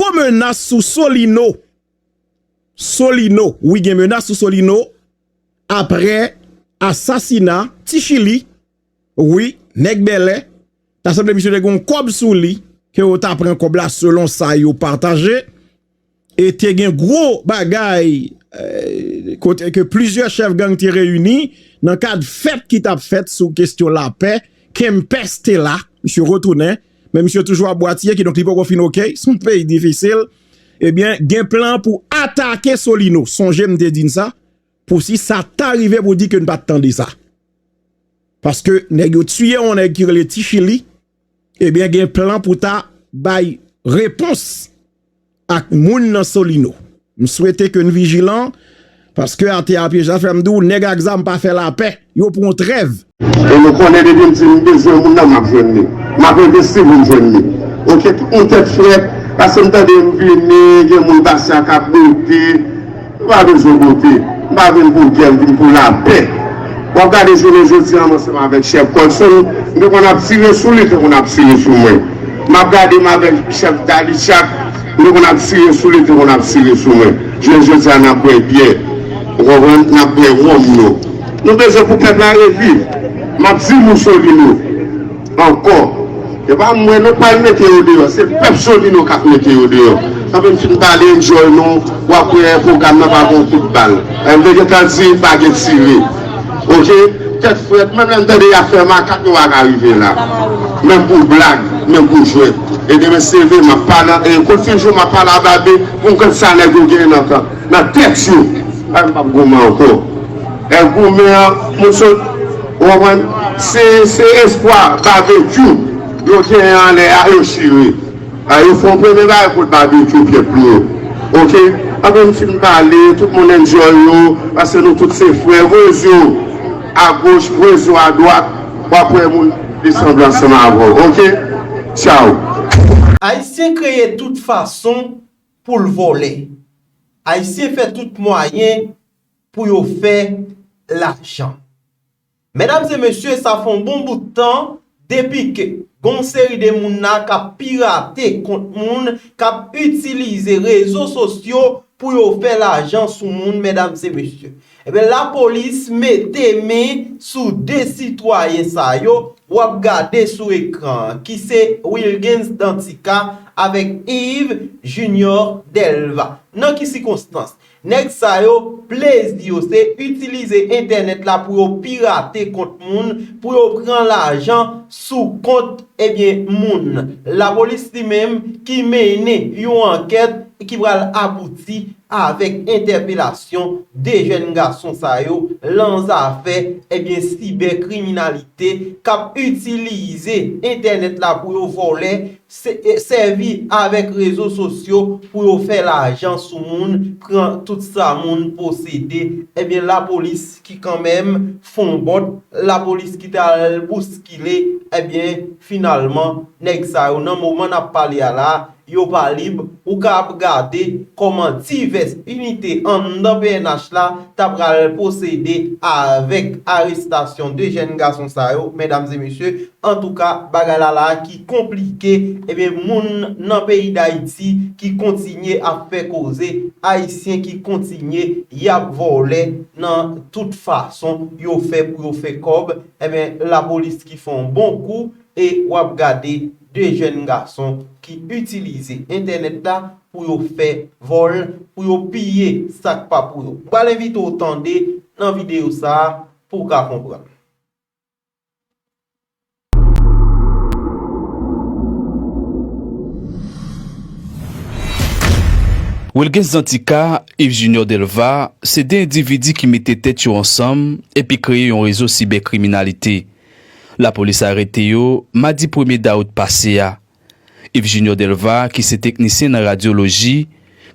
Gwo menas sou Solino. Solino, wi gen menas sou Solino apre asasina Ti Chili. Wi, nèg Bèlè, ta sanble misye te gen yon kòb sou li, ke yo ta pran kòb la selon sa yo pataje. E te gen gwo bagay kote ke plizyè chèf gang te reyini nan kad fèt ki t ap fèt sou kestyon lapè. Kempès te la, misye retounen Men misye toujou ap bwatiye kidonk li poko fin ok, son peyi difisil. Ebyen gen plan pou atake Solino. Sonje m te di n sa pou si sa ta rive pou di ke n pa t tande sa. Paske nèg yo tiye yon nèg ki rele Ti Chili, ebyen gen plan pou ta bay repons. ak moun nan solino m swete ke n vijilan paske ate a pyej la fè m di w nèg ak zam pa fè lapè yo pran trèv. E nou konnen depi m di m bezwen moun nan m ap jwenn li m ap envesti pou m jwenn li ok tout moun tèt frèt pase m tande m vini gen moun pase a kap bote Nou pa vin jwe bote, nou pa vin pou gè, nou vin pou lapè. W ap gade jounen jodi an m ansanm avèk chèf Colson, m te konn ap tire sou li, li te konn ap tire sou mwen. M ap gade m avèk chèf Dalichak, m te konn ap tire sou li, li te konn ap tire sou mwen. Jounen jodi a n ap bwè byè, ou konprann, n ap bwè wonm nou. Nou bezwen pou pèp la reviv. M ap di Moussolino. Ankò yo pa mwen non pral mete yo deyò se pèp solino kap mete yo deyò sa menm fin pale enjoy nou wap wè program nan pa gon kout bal MW gentan di pa gen tire ok tèt frèt menm lèm tande yap fè makak nou paka rive la menm pou blag menm pou jwèt e demen se vre map pa nan e kot fin jou map pa la babe poum konn sa nèg yo gen nan tèt yo MW pap goumen ankò. Èv goumen an nou sot ou konprann se se espwa babekyou yo genyen anlè a yo chire a yo fon premye bagay kot babekyou pyè pli yo ok anben n fin pale tout moun enjoy yo paske nou tout se frè voye zyew a goch voye zyew a dwat wap wè moun de sanble ansanm avèw ok tchaww. Ayisyen kreye tout fason poul vòlè. Ayisyen fè tout mwayen. pou yo fè lajan. Medam e mesye sa fè yon bon bout tan depi ke gen yon seri de moun la k ap pirate kont moun, k ap itilize rezo sosyo pou yo fè lajan sou moun medam e mesye. Ebyen lapolis mete men sou 2 sitwayen sa yo w ap gade sou ekran an ki se Wilguens Dantica avèk Yves Junior Delva. Nan ki sikonstans? Nèg sa yo, plezi yo se itilize entènèt la pou yo pirate kont moun, pou yo pran lajan sou kont ebyen moun. Lapolis li menm ki mennen yon ankèt ki pral abouti avèk entèpelasyon 2 jèn gason sa yo lan zafè ebyen sibè kriminalite kap itilize entènèt la pou yo vòlè Sèvi avèk rezo sosyo pou yo fè lajan sou moun, pran tout sa moun posede, ebyen lapolis ki kanmenm fon bòt, lapolis ki ta al bouskile, ebyen finalman nèg sa yo nan moman n ap pale a la, yo pa lib, ou ka ap gade kòman divès inite anndan pnh la ta pral posede avèk arestasyon 2 jèn gason sa yo, medam e mesye, antouka bagay la la ki. konplike ebyen moun nan peyi dayiti ki kontinye ap fè koze ayisyen ki kontinye yap vòlè nan tout fason yo fè pou yo fè kòb ebyen lapolis ki fè yon bon kou e wap gade 2 jèn gason ki itilize entènèt la pou yo fè vòl pou yo piye sak pa pou yo m pral envite w tande nan videyo sa pouw ka konprann. Wilguens Danticat, Yves Junior Delva, se 2 endividi ki mete tèt yo ansanm epi kreye yon rezo sibè-kriminalite. Lapolis arete yo madi premye dawout pase a. Yves Junior Delva ki se teknisyen nan radyoloji,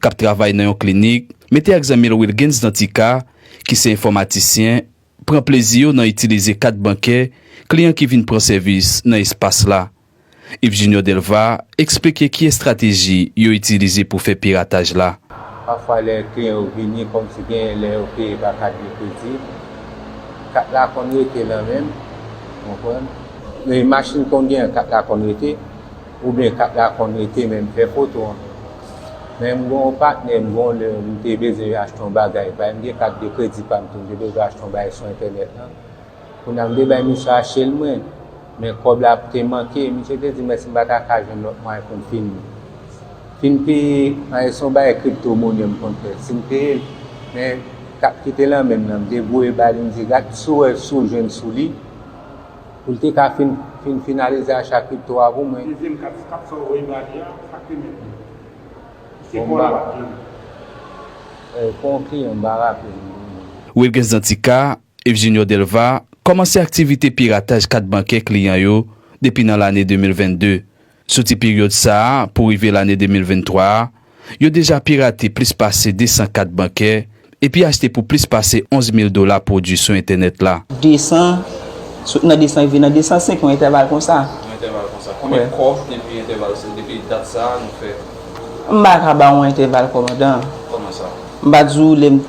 k ap travay nan yon klinik, mete ak zanmi l Wilguens Danticat ki se enfòmatisyen, pran plezi yo nan itilize kat bankè kliyan ki vin pran sèvis nan espas la. Yves Junior Delva eksplike ki estrateji yo itilize pou fè pirataj la. Pafwa lè kliyan yo vini kòmsi genyen lè yo peye pa kat de kredi, kat la konn rete nan men, ou konprann? Men machin konn genyen kat la konn rete, Ou byen ka dakò mete men m fè foto an. Men m gen yon patnè m gen yon lè m te bezwen achte yon bagay bay m gen kat de kredi pa m tou m te bezwen achte yon bagay sou entènèt lan. Kounye a m te bay misye achte l mwen men kòb la te manke. Misye te di m èske m pa ta ka jwenn lòt mwayen pou m fin fin peye an e se yon bagay kripto monè m konn fè si m peye l men kat ki te nan men m nan m te voye ba li m di gad si w wè si w jwenn sou li. Pou l te ka fin fin finalize a chapit 3 pou mwen. Dezyèm kat kat sa w voye ba li a, sa k remèt li? Ki se kò l ap jere? Eee fon kliyan m pa raple m non mwen. Wilguens Dantica, Yves Junior Delva kòmanse aktivite pirataj kat bankè kliyan yo depi nan lane 2022. Soti peryòd sa a pou rive lane 2023 a, yo deja pirate plis pase 200 kat bankè epi achte pou plis pase 11 mil dola pwodui sou entènèt la. 200, sot nan 200 rive nan 205, yon entèval konsa. Yon entèval konsa. Konbyen kòb depi entèval sa, depi dat sa a nou fè? M pa ka ba ou entèval kòmandan. Kòman sa? M pa di ou lè m.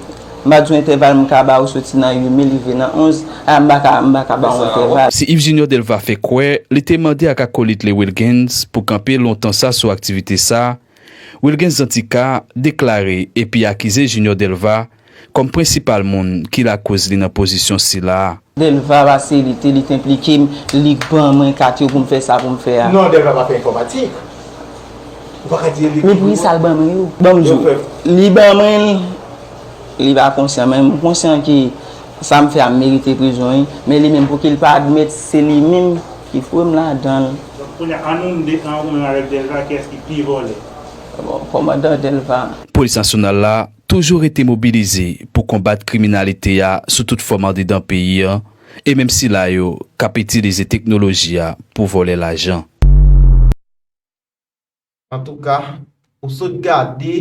M pa di w entèval m ka ba ou soti nan 8 mi rive nan 11, a m pa ka m pa ka ba w entèval. Si Yves Junior Delva fè kwè li te mande ak akolit li Wilguens pou kanpe lontan sa sou aktivite sa, Wilguens Danticat deklare epi akize Junior Delva kòm prensipal moun ki lakoz li nan pozisyon sila a. Delva pase li te li t enplike m li k ban mwen kat yo pou m fè sa pou m fè a. Non Delva pa fè enfòmatik ou pa ka di li. Men poukisa l ban mwen yo. Ban m di w li ban mwen l li pa konsyan men m konsyan ke sa m fè a m merite prizon wi men li menm pouki l pa admèt se li menm ki foure m ladan l. Donk kounye a an nou m de an ou menm avèk Delva kiyès ki pi vòlè. Bon kòmandan Delva. Polis nasyonal la. Toujou rete mobilize pou konbat kriminalite a sou tout fòm andedan peyi an e menm sila yo k ap itilize teknoloji a pou vòlè lajan. Antouka, ou sot gade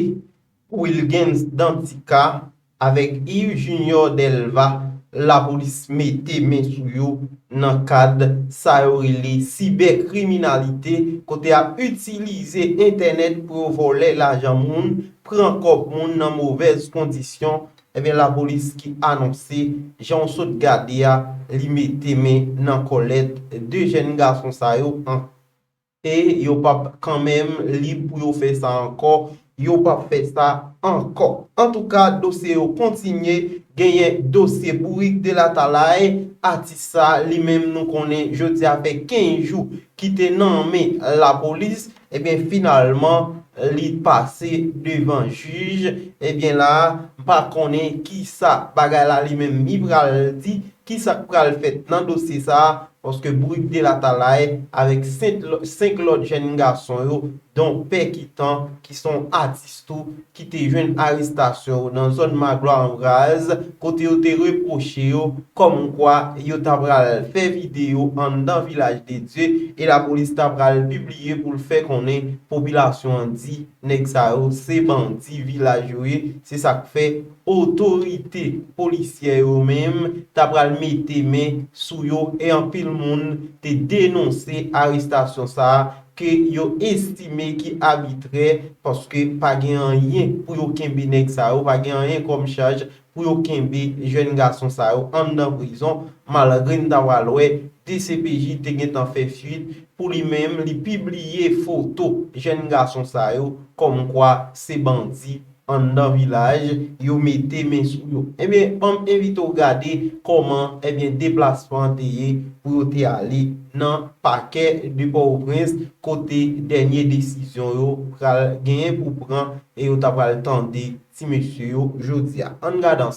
pou Wilguens Dantica avèk Yves Junior Delva lapolis mete men sou yo nan kad sa yo rele sibèkriminalite kote y ap itilize entènèt pou yo vòlè lajan moun pran kòb moun nan movèz kondisyon ebyen lapolis ki anonse janw sot gade a li mete men nan kòlèt 2 jèn gason sa yo ank e yo pap kanmenm lib pou yo fè sa ankò yo pap fè sa ankò antouka dosye yo kontinye genyen dosye bourik de latalay atis sa li menm nou konnen jodi a fè 15 jou ki te nan men lapolis. Ebyen finalman li pase devan jij ebyen la m pa konnen kisa bagay la li menm li pral di kisa k pral fèt nan dosye sa paske Bourik de Latalay avèk 5 lòt jèn gason yo don Pè Kitan ki s on atis. tou ki te jwenn arestasyon yo nan zòn Magloire an Vraz kote yo te repwoche yo kòm kwa yo ta pral fè videyo anndan Vilaj de Dye e lapolis ta pral pibliye pou l fè konnen popilasyon an di nèg sa yo se bandi vilaj yo ye se sa k fè otorite polisyè yo menm ta pral mete men sou yo e anpil moun te denonse arestasyon sa ke yo estime ki abitrè paske pa gen anyen pou yo kenbe nèg sa yo, pa gen anyen kòm chaj pou yo kenbe jèn gason sa yo anndan prizon, malgre n ta pral wè dcpj te gentan fè fuit pou li menm li pibliye foto jèn gason sa yo kòmkwa se bandi. anndan vilaj yo mete men sou yo ebyen banm envite w gade kòman ebyen deplasman an te ye pou yo te ale nan pakè de pòtoprens kote dènye desizyon yo pral genyen pou pran e yo ta pral tande ti mesye yo jodi a ann gad ansanm.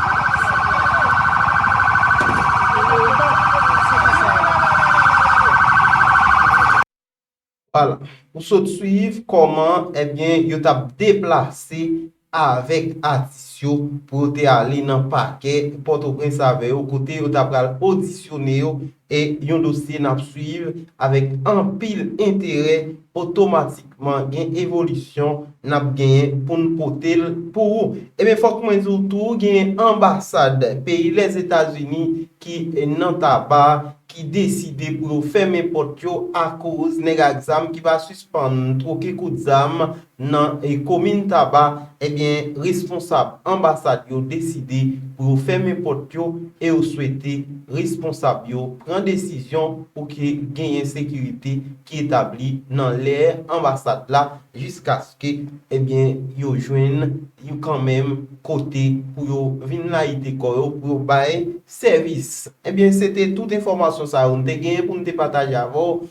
Wala, ou sot swiv kòman ebyen yo tap deplase avèk atis yo pou yo te ale nan pakè Pòtoprens avè yo kote yo ta pral odisyone yo E yon dosye nap swiv avèk anpil enterè otomatikman gen evolisyon nap genyen poun potel pou ou. Ebyen fòk mwen diw tou gen anbasad peyi Lèzetazini ki nan Taba ki deside pou yo fèmen pòt yo akoz nèg ak zam ki pa sispann twoke kout zam nan komin Taba, ebyen responsab anbasad yo deside pou yo fèmen pòt yo e yo swete responsab yo pran desizyon pou ke genyen sekirite ki etabli nan lè anbasad la jiskaske ebyen yo jwenn yon kanmenm kote pou yo vin layite kò yo pou yo bay sèvis. Ebyen se te tout enfòmasyon sa yo m te genyen pou m te pataje avè w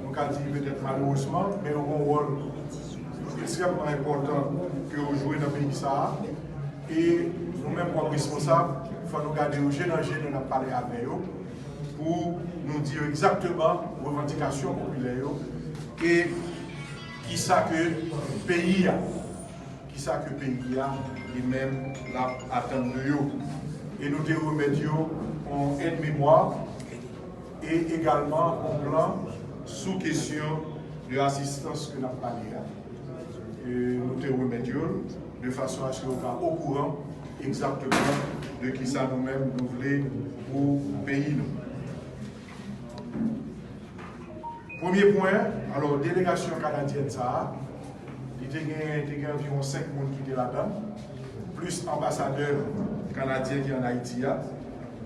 Nou ka di petèt malerezman, men yo gen yon wòl ekstrèmman enpòtan ke yo jwe nan peyi sa a. E nou menm kòm responsab, fò nou gade yo je nan je lè n ap pale avè yo pou nou di yo egzakteman revandikasyon popilè yo e ki sa ke peyi a, ki sa ke peyi a li menm l ap atann de yo. E nou te remèt yo yon èd memwa. E egalman on plan sou kesyon de asistans ke nap pale a, nou te remèt yo l de fason aske yo ka okouran egzakteman de kisa nou menm nou vle pou peyi nou. Premye pwen, alò delegasyon kanadyèn sa a, li te gen te gen anviwon 5 moun ki te ladan l, plis anbasadè kanadyen ki an Ayiti a.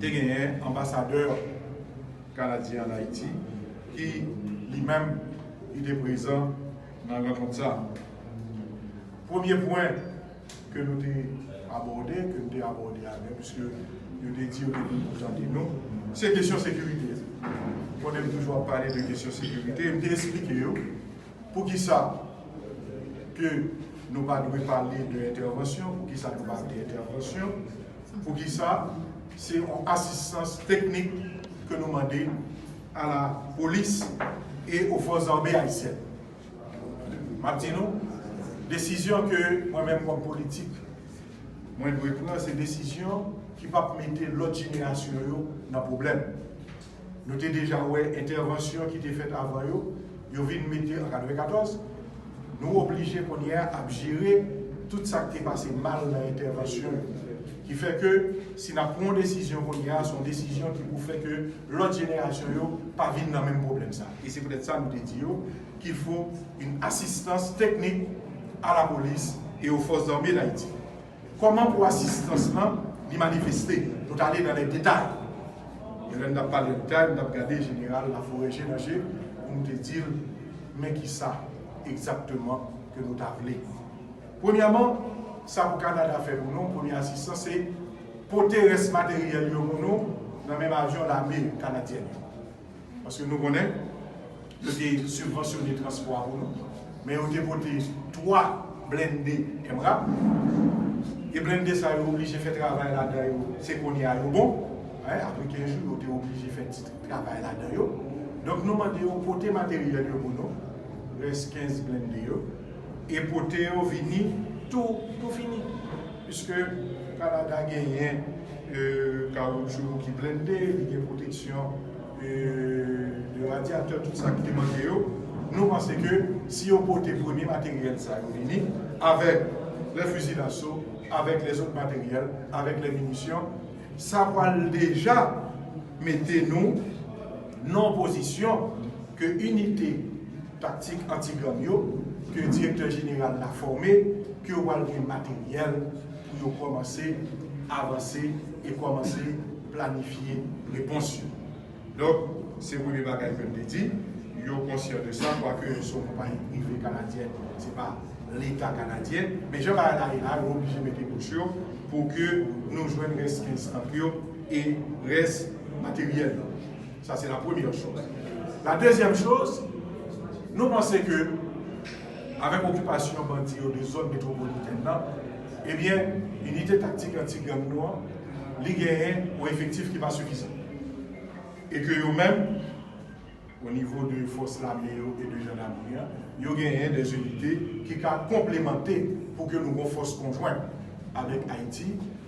Te genyen anbasadè kanadyen an Ayiti ki li menm li te prezan nan rankont sa. Premye pwen ke nou te abòde, ke m te abòde avè l, pwiske yo te di yo te vin pou tande nou, se kesyon sekirite. Konnen m toujou ap pale de kesyon sekirite, m te esplike yo, Poukisa ke nou pa dwe pale de entèvansyon, poukisa nou pa de entèvansyon, poukisa se yon asistans teknik ke nou mande a la polis e o fòs zame ayisyèn. M ap di nou, desizyon ke mwen menm kòm politik mwen dwe pran se desizyon ki p ap mete lòt jenerasyon yo nan pwoblèm. Nou te deja wè entèvansyon ki te fèt avan yo, yo vin mete an 94. Nou oblije kounye a ap jere tout sa k te pase mal nan entèvansyon yo. Ki fè ke si n ap pran yon desizyon kounye a, se yon desizyon ki pou fè ke lòt jenerasyon yo pa vin nan menm pwoblèm sa. E se poutèt sa nou te di yo kil fo yon asistans teknik a lapolis e o fòs zame Dayiti. Kòman pou asistans lan li manifeste? Nou t ale nan lè detay. Men lè n t ap pale detay, m t ap gade Jeneral Laforè je nan je pou m te di l, Men ki sa egzakteman ke nou ta vle. Premyèman, sa pou Kanada fè pou nou, premye asistans, se pote rès materyèl yo pou nou nan menm avyon lame kanadyèn yo. Paske nou konnen, yo te sibvansyone transpò a pou nou, men yo te pote 3 blende MRAP, e blende sa yo oblije fè travay ladan yo, se kounye a yo bon, apre 15 jou yo te oblije fè ti travay ladan yo. Donk nou mande yo pote materyèl yo pou nou, rès 15 blende yo, e pote yo vini tou fini. Piske Kanada genyen kawoutchou ki blende, li gen pwoteksyon de radyatè, tout sa ki te manke yo, nou panse ke si yo pote premye materyèl sa yo vini, avèk lè fizi daso, avèk lèzot materyèl, avèk lè minisyon, sa pral deja mete nou nan yon pozisyon ke inite. taktik anti-gang yo, ke direktè jeneral la fòme, ke yo pral gen materyèl pou yo kòmanse avanse e kòmanse planifye repons yo. Donk, se premye bagay ke m te di, yo konsyan de sa, kwake yo se yon konpayi prive kanadyen, se pa Leta kanadyen. Men jan bagay la ye la, yo oblije mete bouch yo pou ke nou jwenn rès 15 tank yo e rès materyèl yo. Sa se la premyè choz. La dezyèm choz, nou panse ke avèk okipasyon bandi yo de zòn metwopolitèn nan, ebyen inite taktik anti-gang nou an, li genyen yon efektif ki pa sifizan. E ke yo menm, o nivo de fòs lame yo e de jandamri an, yo genyen dè inite ki ka konplemante pou ke nou gon fòs konjwen avèk Ayiti,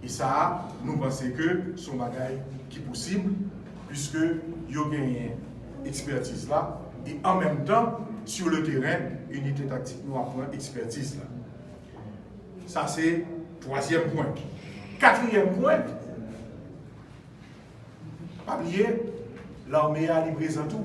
E sa a, nou panse ke se yon bagay ki posib, puiske yo genyen ekspètiz la, e an menm tan, sur le terrain, inite taktik nou ap pran ekspètiz la. Sa se twazyèm pwen. Katriyèm pwen, pa bliye, lame a li prezan tou.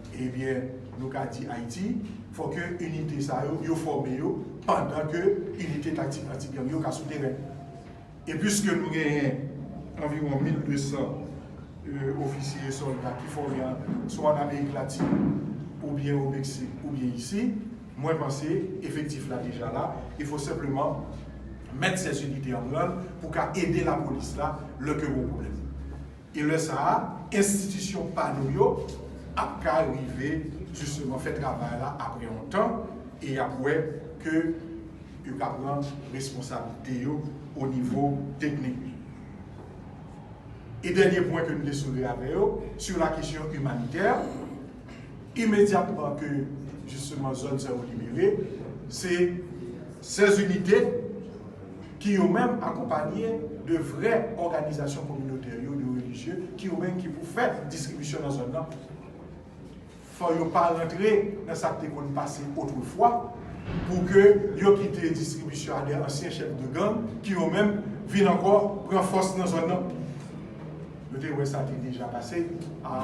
Ebyen nou ka di Ayiti fò ke inite sa yo, yo fòme yo pandan ke inite taktik anti gang yo ka sou teren. E pwiske nou genyen anviwon 1200 ofisye e sòlda ki fòme swa an Amerik Latin oubyen o Meksik oubyen isi, mwen panse efektif la deja la, il fò senpleman mèt sèsinite an branl pou ka ede lapolis la lè ke gon pwoblèm. E lè sa a, enstitisyon pa nou yo ap ka rive jisteman fè travay la apre yon tan e y ap wè ke yo ka pran responsablite yo o nivo teknik. E dènye pwen ke m te soulve avè yo, sou la kesyon imanitè, imedyatman ke jisteman zòn sa yo libere, se 16 inite ki yo menm akonpanye de vrè òganizasyon kominotè yo, de relijye, ki yo menm ki pou fè distribisyon nan zòn nan. Fò yo pa rantre nan sa ki te konn pase otrefwa pou ke yo kite distribisyon a de ansyen chèf de gang ki yo menm vin ankò pran fòs nan zòn nan. Nou te wè sa te deja pase a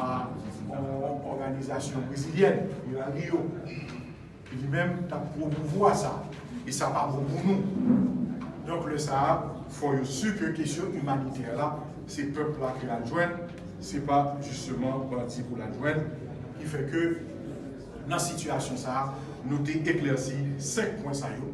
yon òganizasyon brezilyèn, Milan Rio, ki li menm t ap pwomouvwa sa. E sa pa bon pou nou. Donk lè sa a, fò yo si ke kesyon imanitè la, se pèp la ki al jwenn, se pa jisteman bandi pou l al jwenn. Ki fè ke nan sitiyasyon sa a, nou te eklèsi 5 pwen sa yo.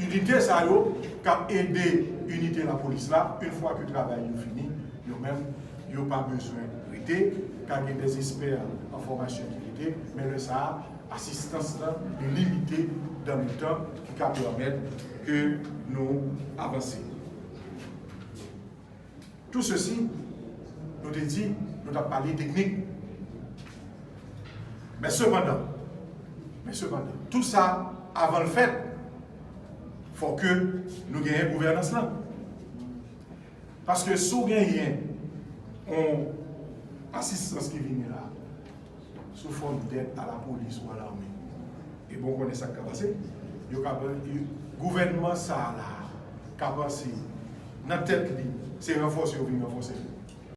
Inite sa yo k ap ede inite lapolis la, yn fwa ke travay yo fini, yo menm yo pa bezwen rete, ka gen dè espè an fòmasyon ki rete, men lè sa a asistans lan li limite dan le tan ki ka pèmèt ke nou avanse. Tout ceci, nou te di nou tap pale teknik. Men sepandan, men sepandan, tout sa avan l fèt, fò ke nou genyen gouvènans lan. Paske si w genyen yon asistans ki vini la, sou fòm dèt a lapolis ou a lame. E bon konnen sa k ka pase. Yo ka pran e gouvènman sa a la a ka panse nan tèt li se ranfòse yo vin ranfòse l.